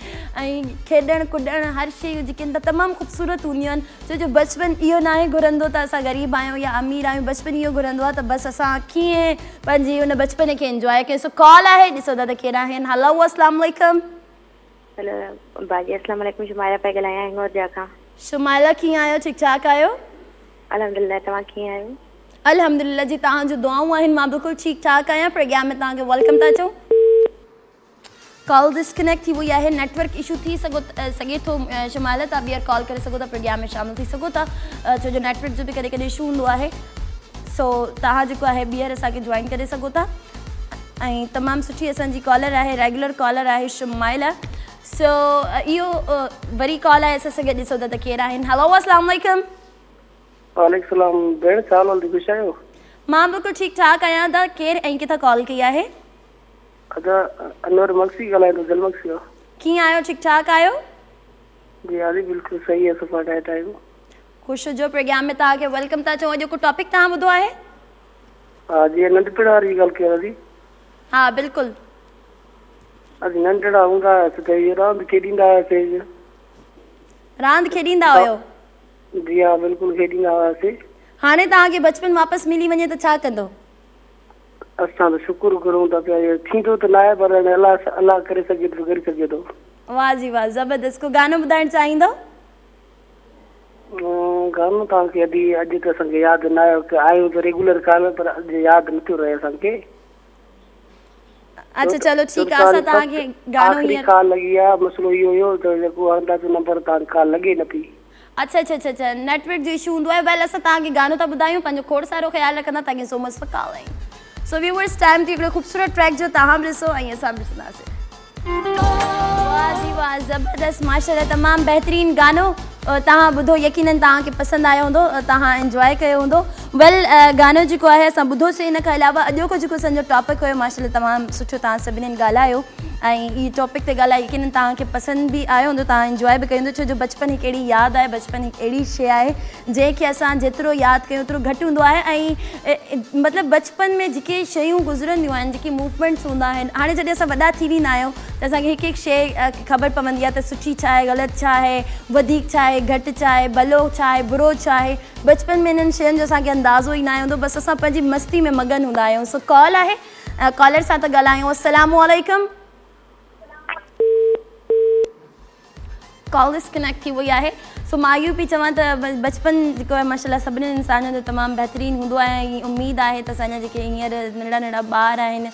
۽ کيڏڻ ڪڏڻ هر شيون جيڪي آهن تمام خوبصورت هونديون آهن ڇو جو بچپن اهو ناهي گهرندو ته اسان غريب آهيون يا امير آهيون بچپن اهو گهرندو آهي ته بس اسان ڪيئن پنهنجي ان بچپن کي انجواء ڪيون سو ڪال آهي ڏسو ٿا ته ڪير آهن هلو السلام عليڪم. هيلو ابا جي اسلام عليڪم شمائلا پئي ڳالهايان هنڱورجا کان. شمائلا ڪيئن آهيو ٺيڪ ٺاڪ آهيو. الحمدلله توهان ڪيئن آهيو. الحمدلله جي توهان جون دعائون آهن مان بلڪل ٺيڪ ٺاڪ آهيان پرگيان ۾ توهان کي ويلڪم ٿا چئون. ڪال ڊس ڪنيڪٽ ٿي وئي آهي نيٽ ورڪ اشو ٿي سگهي ٿو شمائلا توهان ٻيهر ڪال ڪري سگهو ٿا پرگيان ۾ شامل ٿي سگهو ٿا ڇو جو نيٽ ورڪ جو به ڪڏهن ڪڏهن اشو هوندو آهي سو توهان جيڪو آهي ٻيهر اسان کي جوائن ڪري سگهو ٿا. ۽ تمام سٺي اسان جي ڪالر آهي ريگيولر ڪالر آهي شمائلا سو اهو وري ڪال آهي اسان سان گڏ ڏسو ته ڪير آهن هلو السلام عليڪم وعليڪم السلام ڀيڻ ڇا حال آهي خوش آهيو مان بلڪل ٺيڪ ٺاڪ آهيان تان ڪير ۽ ڪٿا ڪال ڪئي آهي ادا انور مگسي ڳالهايان ٿو دل مگسي مان ڪيئن آهيو ٺيڪ ٺاڪ آهيو جي هاري بلڪل صحيح اسان سان ٺاهي ٺاهيو خوش جو پروگرام ۾ تان کي ويلڪم تان چون اڄ ڪو ٽاپڪ تان ٻڌو آهي ها جي ننڍپڻ واري ڳالهه ڪيو ادي. ها بلڪل. اسين ننڍڙا هوندا هئاسين ته اهي راند کيڏيندا هئاسين. راند کيڏيندا هيو. جي ها بلڪل کيڏيندا هئاسين. هاڻي توهان کي بچپن واپس ملي وڃي ته ڇا ڪندو؟ اسان ته شڪر گهرون ٿا پيا اهو ٿيندو ته ناهي پر هاڻي الله الله ڪري سگهي ٿو ته ڪري سگهي ٿو. واه جي واه زبردست ڪو گانو ٻڌائڻ چاهيندو؟ گهڻو ٿا ڪي ادي اڄ ته اسان کي ياد نه آيو ڪي آيون ته ريگولر ڪالر پر اڄ ياد نه ٿيو رهي اسان کي اچھا چلو ٺيڪ آ اسان تان کي گانو آخري ڪال لڳي آ مسئلو اهو هيو ته جيڪو هڻن ٿا سو نمبر تان ڪال لڳي نه ٿي اچھا اچھا اچھا اچھا نيٽ ورڪ جو اشو هوندو آهي ويل اسان تان کي گانو ٿا ٻڌايون پنهنجو کوڙ سارو خيال رکندا thank you so much for calling so viewers time تي هڪڙو خوبصورت ٽريڪ جو تان به ڏسو ۽ اسان به ڏسنداسين واھ جي واھ زبردست ماشاءالله تمام بهترين گانو توهان ٻڌو يقينن توهان کي پسند آيو هوندو توهان انجواء ڪيو هوندو ويل گانو جيڪو آهي اسان ٻڌو سي ان کان علاوه اڄوڪو جيڪو اسان جو ٽاپڪ هيو ماشاءالله تمام سٺو توهان سڀنين ڳالهايو ۽ هي ٽاپڪ تي ڳالهائي يقينن توهان کي پسند به آيو هوندو توهان انجواء به ڪيو هوندو ڇو جو بچپن هڪ اهڙي ياد آهي بچپن هڪ اهڙي شي آهي جنهن کي اسان جيترو ياد ڪيون اوترو گهٽ هوندو آهي ۽ مطلب بچپن ۾ جيڪي شيون گذرنديون آهن جيڪي موومينٽس هوندا آهن هاڻي جڏهن اسان وڏا ٿي ويندا آهيون ته اسان کي هڪ هڪ شي خبر پوندي آهي ته سٺي ڇا آهي غلط ڇا آهي وڌيڪ ڇا آهي گهٽ ڇا آهي ڀلو ڇا آهي برو ڇا آهي بچپن ۾ انهن شين جو اسان کي اندازو ئي ناهي هوندو بس اسان پنهنجي مستي ۾ مگن هوندا آهيون سو ڪال آهي ڪالر سان ٿا ڳالهايون السلام عليڪم. ڪال ڊس ڪنيڪٽ ٿي وئي آهي سو مان اهو پئي چوان ته بچپن جيڪو آهي ماشاء الله سڀني انسانن جو تمام بهترين هوندو آهي ۽ اميد آهي ته اسان جا جيڪي هينئر ننڍڙا ننڍڙا ٻار آهن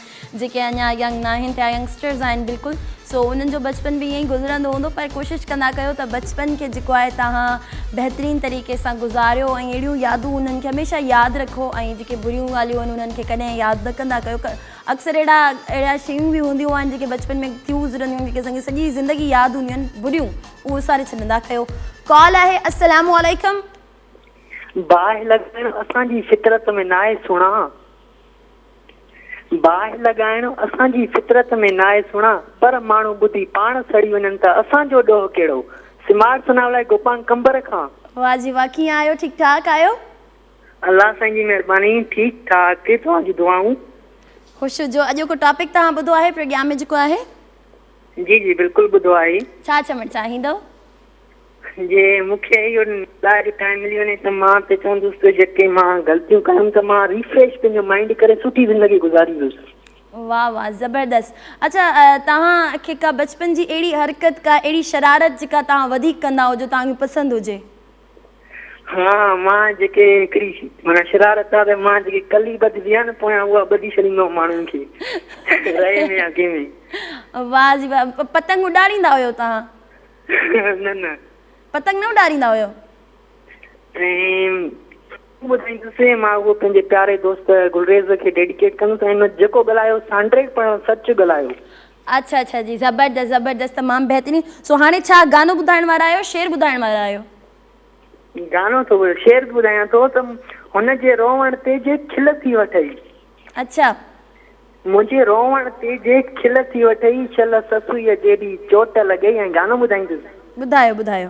جيڪي اڃا ينگ ناهن ٿيا ينگسٽرز آهن بلڪل سو انهن جو بچپن به ائين ئي گذرندو هوندو پر ڪوشش ڪندا ڪيو ته بچپن کي جيڪو آهي تهان بهترين طريقي سان گذاريو ۽ اهڙيون يادون انهن کي هميشه ياد رکو ۽ جيڪي بريون ڳالهيون آهن انهن کي ڪڏهن ياد نه ڪندا ڪيو اڪثر اهڙا اهڙيا شيون به هونديون آهن جيڪي بچپن ۾ ٿيون گذرنديون آهن جيڪي اسان کي سڄي زندگي ياد هونديون آهن بڏيون اهو وساري ڇڏندا ڪيو ڪال آهي السلام عليڪم باهه لڳائڻ اسان جي فطرت ۾ ناهي سهڻا باهه لڳائڻ اسان جي فطرت ۾ ناهي سهڻا پر ماڻهو ٻڌي پاڻ سڙي وڃن ته اسان جو ڏوهه ڪهڙو سمار سناولا گوپان ڪنبر کان واه جي واه ڪيئن آهيو ٺيڪ ٺاڪ آهيو. الله سائين جي مھرباني ٺيڪ ٺاڪ توھان جون دعائون. خوش ھجو اڄوڪو ٽاپڪ توھان ٻڌو آھي پروگيام ۾ جيڪو آھي. جي جي بلڪل ٻڌو آھي. ڇا چوڻ چاھيندو. جي مونکي اھو ڏاھر ٽائيم ملي وڃي ته مان ته چوندس ته جيڪي مان غلطيون ڪيم ته مان ريفريش پنھنجو مائينڊ ڪري سٺي زندگي گذاريندس. واھ واھ زبردست اچھا توھان کي ڪا بچپن جي اھڙي حرڪت ڪا اھڙي شرارت جيڪا توھان وڌيڪ ڪندا ھجو توھان کي پسند ھجي. ها مان جيڪي هڪڙي مانا شرارت آ ته مان جيڪي ڪلي ٻڌبي آ نه پويان اها ٻڌي ڇڏيندو آهيان ماڻهن کي رئي ۾ يا ڪنهن ۾ واه جي واه پتنگ اڏاريندا هيو توهان نه نه پتنگ نه اڏاريندا هيو ۽ ٻڌائيندسين مان اهو پنهنجي پياري دوست گلريز کي ڊيڊيڪيٽ ڪندس ۽ جيڪو ڳالهايو سانڊريڪ پڻ سچ ڳالهايو اڇا اڇا جي زبردست زبردست تمام بهترين سو هاڻي ڇا گانو ٻڌائڻ وارا آهيو شعر ٻڌائڻ وارا آهيو. گانو ٿو ٻڌايان شعر به ٻڌايان ٿو ته هن جي روئڻ تي جي کل ٿي وٺئي. اڇا. منهنجي روئڻ تي جي کل ٿي وٺئي شل سسئي جيڏي چوٽ لڳئي ۽ گانو ٻڌائيندس. ٻڌايو ٻڌايو.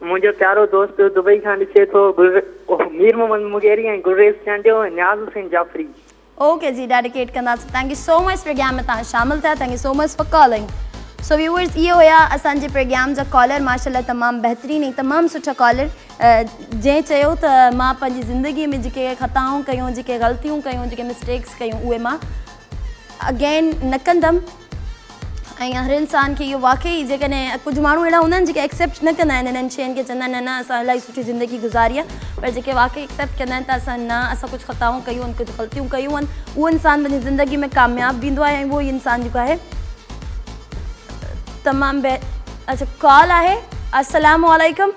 منهنجو پيارو دوست دبئي کان ڏسي ٿو گل مير محمد مغيري ۽ گلريز چانڊيو ۽ نياز حسين جعفري. اوڪي جي ڊيڊيڪيٽ ڪنداسين thank you so much programme ۾ توهان شامل ٿيا thank you so much for calling so viewers اهي هيا اسان جي پروگرام جا ڪالر ماشاءالله تمام بهترين ۽ تمام سٺا ڪالر جنهن چيو ته مان پنهنجي زندگي ۾ جيڪي خطائون ڪيون جيڪي غلطيون ڪيون جيڪي مسٽيڪس ڪيون اهي مان اگين نه ڪندم ۽ هر انسان کي اهو واقعي جيڪڏهن ڪجهه ماڻهو اهڙا هوندا آهن جيڪي ايڪسيپٽ نه ڪندا آهن انهن شين کي چوندا آهن نه نه اسان الاهي سٺي زندگي گذاري آهي پر جيڪي واقعي ايڪسيپٽ ڪندا آهن ته اسان نه اسان ڪجهه خطائون ڪيون آهن ڪجهه غلطيون ڪيون آهن اهو انسان پنهنجي زندگي ۾ ڪامياب به ايندو آهي ۽ اهو ئي انسان جيڪو آهي تمام بهتر اچھا ڪال آهي السلام عليڪم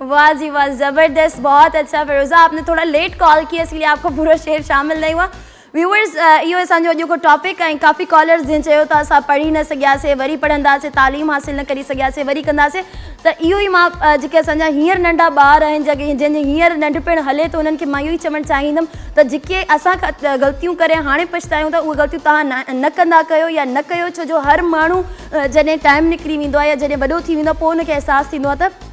واھ جي واھ زبردست بھت اچھا فيروزه آپ ني ٿورا ليٽ ڪال ڪي اسليي آپ ڪو پورو شعر شامل نھي ھوا ويوئرز اھو اسان جو اڄ ڪو ٽاپڪ ۽ ڪافي ڪالرز جنھن چيو ته اسان پڙھي نه سگھياسي وري پڙھنداسي تعليم حاصل نه ڪري سگھياسي وري ڪنداسي ته اھو ئي مان جيڪي اسان جا ھينئر ننڍا ٻار آھن جا جنھن جي ھينئر ننڍپڻ ھلي ٿو انھن کي مان اھو ئي چوڻ چاھيندم ته جيڪي اسان کان غلطيون ڪري ھاڻي پڇتايون ٿا اھي غلطيون توھان نه ڪندا ڪيو يا نه ڪيو ڇو جو ھر ماڻھو جڏهن ٽائيم نڪري ويندو آهي يا جڏهن وڏو ٿي ويندو آهي پوء ان کي احساس ٿيندو آهي ته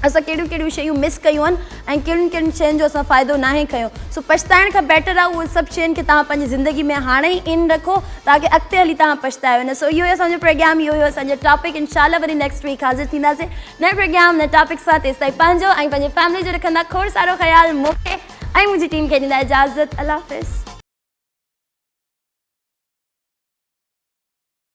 اسان ڪهڙيون ڪهڙيون شيون مس ڪيون آهن ۽ ڪهڙين ڪهڙين شين جو اسان فائدو ناهي کنيو سو پڇتائڻ کان بيٽر آهي اهي سڀ شين کي توهان پنهنجي زندگي ۾ هاڻي ئي ان رکو تاڪه اڳتي هلي توهان پڇتايو نه سو اهو هي اسان جو پروگرام اهو هيو اسان جو ٽاپڪ انشاء الله وري نيڪسٽ ويڪ حاضر ٿينداسي نئين پروگرام نئين ٽاپڪ سان تيستائين پنهنجو ۽ پنهنجي فيملي جو رکندا کوڙ سارو خيال مون کي ۽ منهنجي ٽيم کي ڏيندا اجازت الله حافظ.